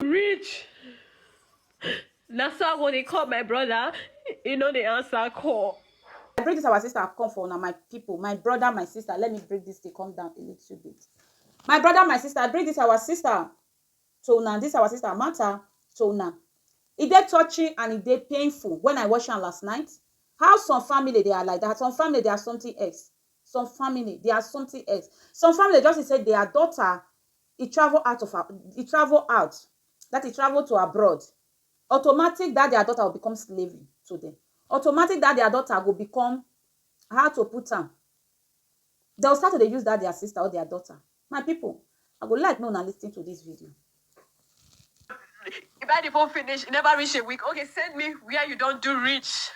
reach na so i go dey call my brother he no dey answer call. I bring this our sister I've come for una my people my brother my sister let me break this thing come down a little bit my brother my sister I bring this our sister to una this our sister matter to una e dey touching and e dey painful when I watch am last night how some family they are like that some family they are something else some family they are something else some family just be say their daughter e travel out of e travel out that e travel to abroad automatic that their daughter will become slave to them automatic that their daughter go become how to put am they'll start to dey use that their sister or their daughter my people i go like make una lis ten to this video. You buy the phone finish, e never reach a week. Okay, send me where you don do reach.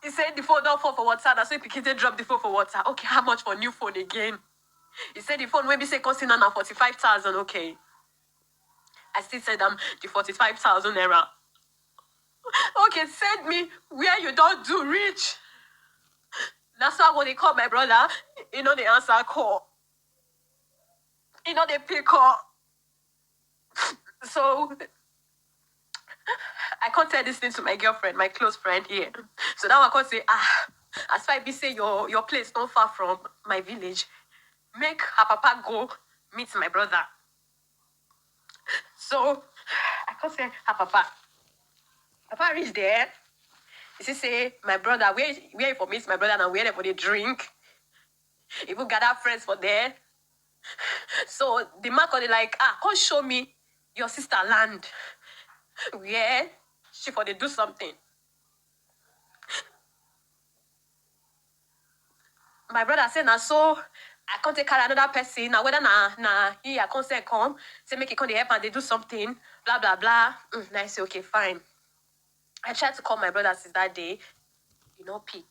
He say the phone don fall for water, na so him pikin take drop the phone for water. Okay, how much for new phone again? He say the phone wey be say cost him now na forty five thousand. Okay, I still send am the forty five thousand naira. Okay, send me where you don do reach. Na so I go dey call my brother, he no dey answer call, he no dey pick call. So I can't tell this thing to my girlfriend, my close friend here. So now I can't say, ah, as far be say your your place not far from my village, make her papa go meet my brother. So I can't say her papa. Papa reach there. He say, say my brother, where where you for meet my brother and where they for the drink. Even gather friends for there. So the man come dey like, ah, come show me your sister land where she for dey do something. My brother say na so I come take carry another person, na whether na na he I come send come, say make he come dey help am dey do something, blah blah blah. Mm, na I say okay, fine. I tried to call my brother since that day, he no pick.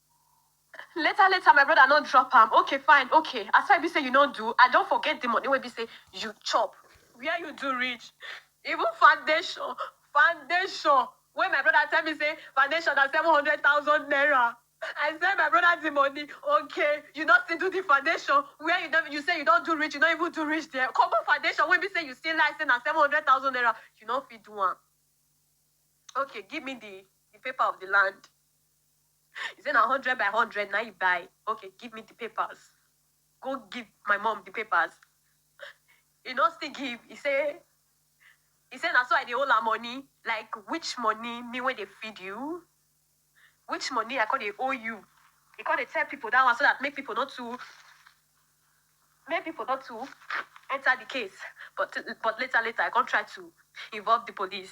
Later later my brother no drop am okay fine okay as far e be say you no do I don forget the money wey be say you chop where you do reach even foundation foundation wey my brother tell me say foundation na seven hundred thousand naira I send my brother the money okay you no still do the foundation where you don you say you don do reach you no even do reach there common foundation wey be say you still like say na seven hundred thousand naira you no fit do am okay give me the the paper of the land. You say na hundred by hundred na you buy. Okay, give me the papers. Go give my mom the papers. You no still give. You say you say na so I dey hold her money. Like which money me wey dey feed you? Which money I come dey owe you? You come dey tell people that one so that make people not too make people not too enter the case. But but later later I come try to involve the police.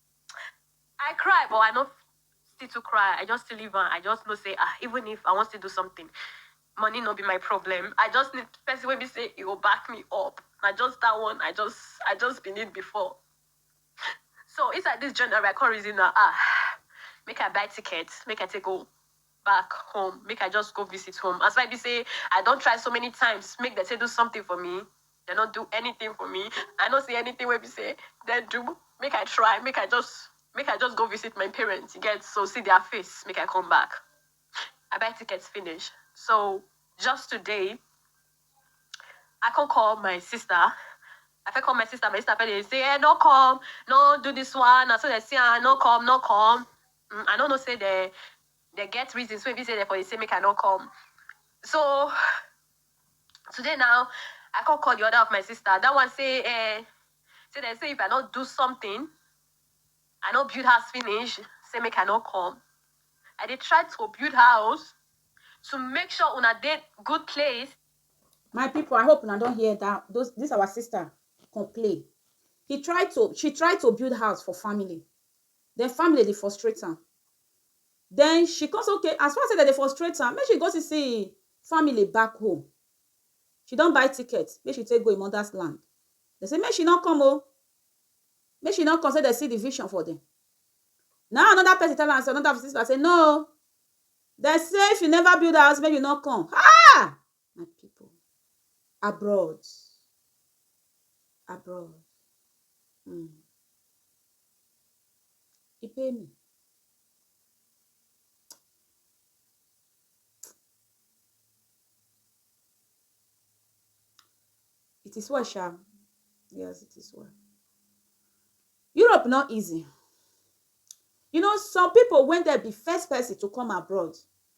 I cry but I no still too cry. I just still leave am. I just know say ah even if I wan still do something, money no be my problem. I just need person wey be say e go back me up. Na just that one I just I just be need before. So inside this January I come reason na ah make I buy ticket make I take go back home make I just go visit home as why be say I don try so many times make dem say do something for me dem no do anything for me I no see anything wey be say dem do make I try make I just make I just go visit my parents you get so see their face make I come back I buy tickets finish so just today I come call my sister. I fit call my sister, my sister fit dey say, eh, no come, no do this one, na so they say, ah, no come, no come. Umm I no know say dem dem get reasons wey be say dem for dey say make I no come so today now I come call the other of my sister that one say eh say dem say if I no do something I no build house finish say make I no come I dey try to build house to make sure una dey good place. My people I hope una don hear that those this our sister complain he try to she try to build house for family Then family dey frustrate am. Then she come say okay as far say dem dey frustrate am make she go still see im family back home. She don buy ticket make she take go im mother's land. Dem say make she no come oh, make she no come say dem see the vision for dem. Na im another person tell am say another sister say no oh dem say if you never build house make you no come. Haa! my people abroad abroad mm. e pay me it is well sha yes it is well europe not easy you know some people when they be first person to come abroad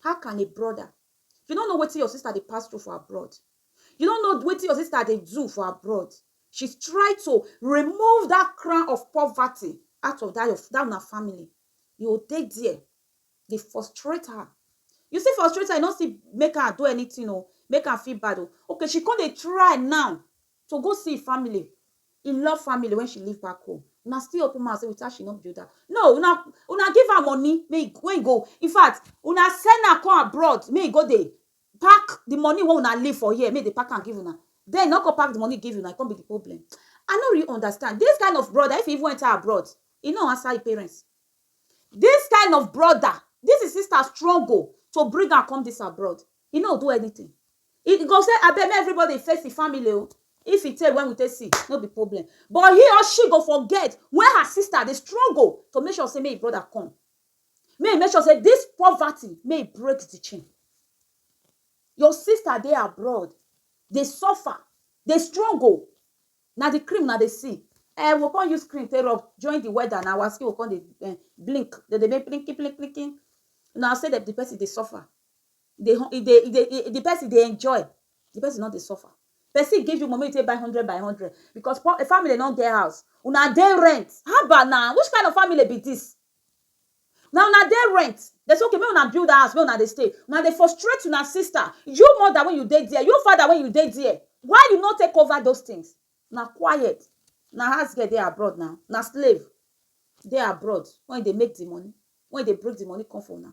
How can a brother, you no know wetin your sister dey pass through for abroad, you no know wetin your sister dey do for abroad, she's try to remove that crown of poverty out of that your that una family, you go dey there dey frustrate her, you still frustrate her, you no still make her do anything oo, make her feel bad oo, okay she come dey try now to go see im family, im love family wen she leave back home, una still open mouth sey with her she no build house, no una una give am money make e wey e go infact una send am come abroad make e go dey pack di money wey una leave for here make e dey pack am give una, den e no come pack di money give una e come be di problem, I no really understand dis kind of broda if e even enter abroad e no answer im parents, dis kind of broda dis im sister struggle to bring am come dis abroad e no do anything. He go say abeg make everybody face the family o. Oh. If e take when we take see, no be problem. But he or she go forget when her sister dey struggle to make sure say make brother come. May he make sure say this poverty may he break the chain. Your sister dey abroad, dey suffer, dey struggle. Na the cream na dey see. Eh, we come use cream take rub join the weather na our skin we come dey eh, blink. They dey make blinky blink blinky. Una say that the person dey suffer. e dey e dey e dey the person dey enjoy the person no dey suffer person give you money make you take buy hundred by hundred because poor family no get house una dey rent haba na which kind of family be this na una dey rent dem say okay make una build house make una dey stay una dey frustrate una sister you mother wey you dey there you father wey you dey there why you no take over those things na quiet na house girl dey abroad na na slave dey abroad wey dey make the money wey dey bring the money come for una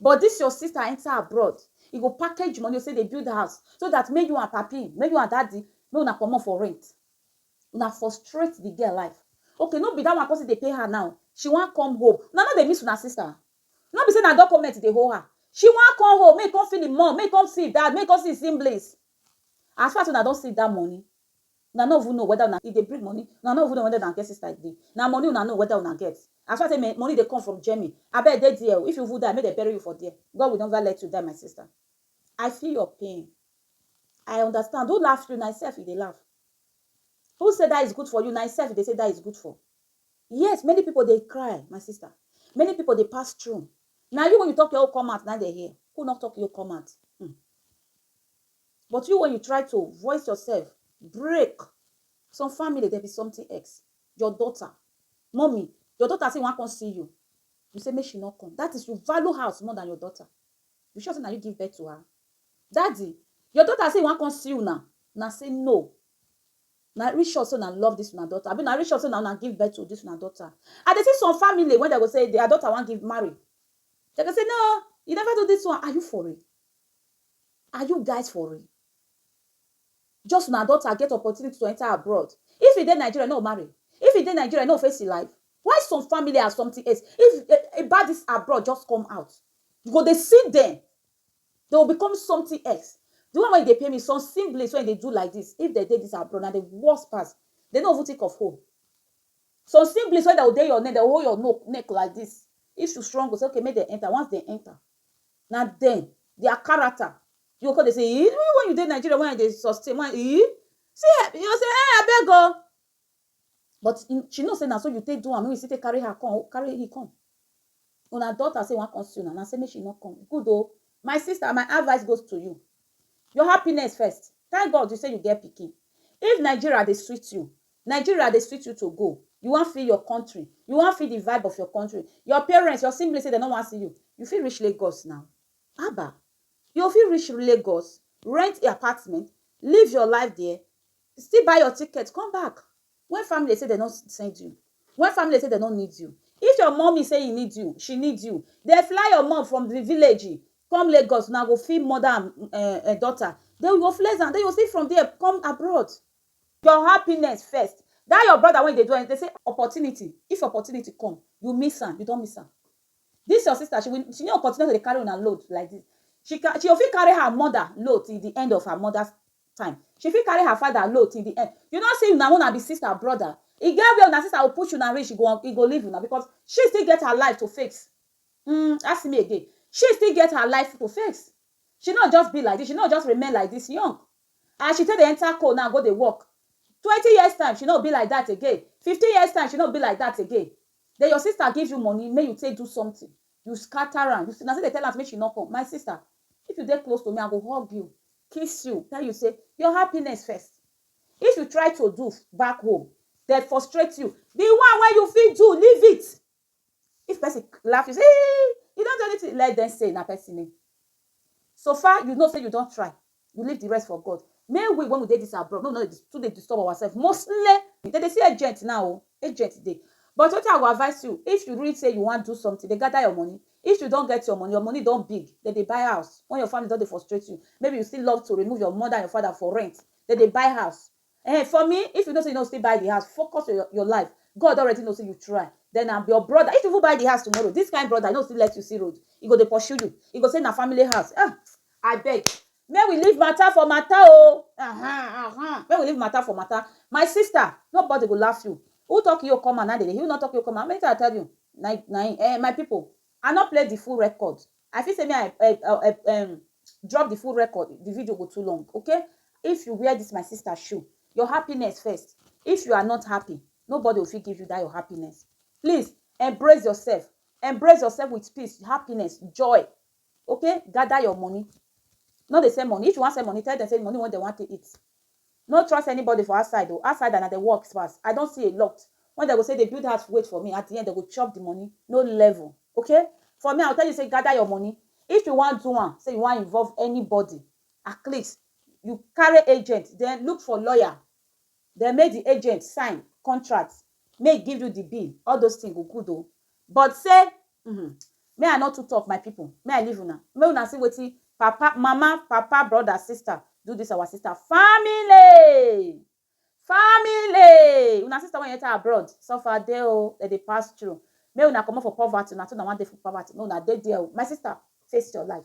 But this your sister enter abroad e go package money say dey build house so that make you and papi make you and daddy make una comot for rent una frustrate the girl life okay no be that one come still dey pain her now she wan come home una no dey miss una sister no be say na document dey hold her she wan come home make e come see the mom make e come see e dad make e come see e siblings as far as say una don see that money Una no even know weda una e dey bring money, una no even know weda una get sister again, na money una know weda una get. As far as say money dey come from Germany, abeg dey there o, if you even die make dem bury you for there, God will never let you die my sister, I feel your pain, I understand, who laugh you, na im self you dey laugh, who say that is good for you, na im self you dey say that is good for, yes many people dey cry my sister, many people dey pass through, na you wey you talk your own come out na im dem hear, who no talk your own come out, um. But you when you try to voice yourself break some family there be something ex your daughter mummy your daughter say wan come see you you say make she not come that is you value house more than your daughter you sure say na you give birth to her daddy your daughter say wan come see you now na say no na reach sure say na love this una daughter abi na reach sure say na una give birth to this una daughter i dey see some family when they go say their daughter wan give marry they go say no you never do this one are you for real Are you guys for real? Just una daughter get opportunity to enter abroad. If e dey Nigeria, no marry. If e dey Nigeria, no face e life. Why some family are something else? If eh, eh, about this abroad just come out, you go dey see them. They will become something else. The one wey dey pay me, some siblings wey dey do like this, if they dey this abroad, na the worst pass. They no even think of home. Some siblings wey dey go dey your neck, dey hold your no- neck like this. If you strong, go say, okay, make they enter. Once they enter, Na dem, their character you go come dey say eeh even when you dey Nigeria wey I dey sustain wey I eeh see eeh you go say eeh abeg oo but she know say na so you take do am wey you still take carry her come carry he come una daughter say e wan come see una una say make she no come good oo my sister my advice goes to you your happiness first thank God say you get pikin if Nigeria dey sweet you Nigeria dey sweet you to go, you wan feel your country, you wan feel the vibe of your country, your parents, your siblings say dem no wan see you, you fit reach Lagos now, haba, you go fit reach Lagos, rent a apartment, live your life there, still buy your ticket come back when family dey say dem no send you, when family dey say dem no need you, if your mummy say he need you, she need you, dem fly your mum from the village come Lagos, una go feel mother and um daughter, then you go flex am, then you go still from there come abroad, Your happiness first. That your brother wey you dey do anything, say opportunity, if opportunity come, you miss am, you don miss am. This your sister, she will, she no go continue to dey carry una load like this. She can, she go fit carry her mother load till the end of her mother's time. She fit carry her father load till the end. You no see una wey una be sister, brother, e get where una sister go push una reach, e go, e go leave una because she still get her life to face. Uhmm, ask me again. She still get her life to face. She no just be like this, she no just remain like this young. As she take dey enter coal now go dey work Twenty years time she no be like that again Fifteen years time she no be like that again Then your sister give you money make you take do something You scatter am You na still dey tell am say make she no come My sister If you dey close to me I go hug you Kiss you Tell you say Your happiness first If you try to do back home Dem frustrate you The one wey you fit do leave it If person laugh you say eii you don do anything let them say na person name. So far you know say you don try you leave the rest for God. May we when we dey this abroad make we no dey too dey disturb ourself mostly dem dey see agent now o agent dey but wetin I go advice you if you really say you wan do something dey gather your money if you don get your money your money don big dem dey buy house when your family don dey frustrate you maybe you still love to remove your mother and your father for rent dem dey buy house Ehen for me if you know say you no still buy the house focus your your life God don already know say you try then na your brother if you even buy the house tomorrow this kind brother no still let you see road he go dey pursue you he go say na family house ah abeg make we leave matter for matter o ahan ahan make we leave matter for matter my sister nobody go laugh you who talk you okoman na dey dey hear who no talk you okoman how many times I tell you na na him eh my people I no play the full record I fit say me I um um drop the full record the video go too long okay if you wear this my sister shoe your happiness first if you are not happy nobody go fit give you that your happiness please embrace yourself embrace yourself with peace happiness joy okay gather your money no dey send money if you wan send money tell them say money wey dem wan take eat No trust anybody for outside o, outsider na dem works pass, I don see a lot when dem go say dey build house wait for me at the end dem go chop the money, no level ok, for me I go tell you say gather your money if you wan do am say you wan involve anybody at least you carry agent then look for lawyer then make the agent sign contract make e give you the bill all those thing go good o But say um me I no too talk my people me I leave una make una see wetin papa mama papa brother sister do this our sister family family una sister wey enter abroad suffer dey o oh, dem dey pass through make una comot for poverty una too una wan dey for poverty make una dey there o oh. my sister face your life.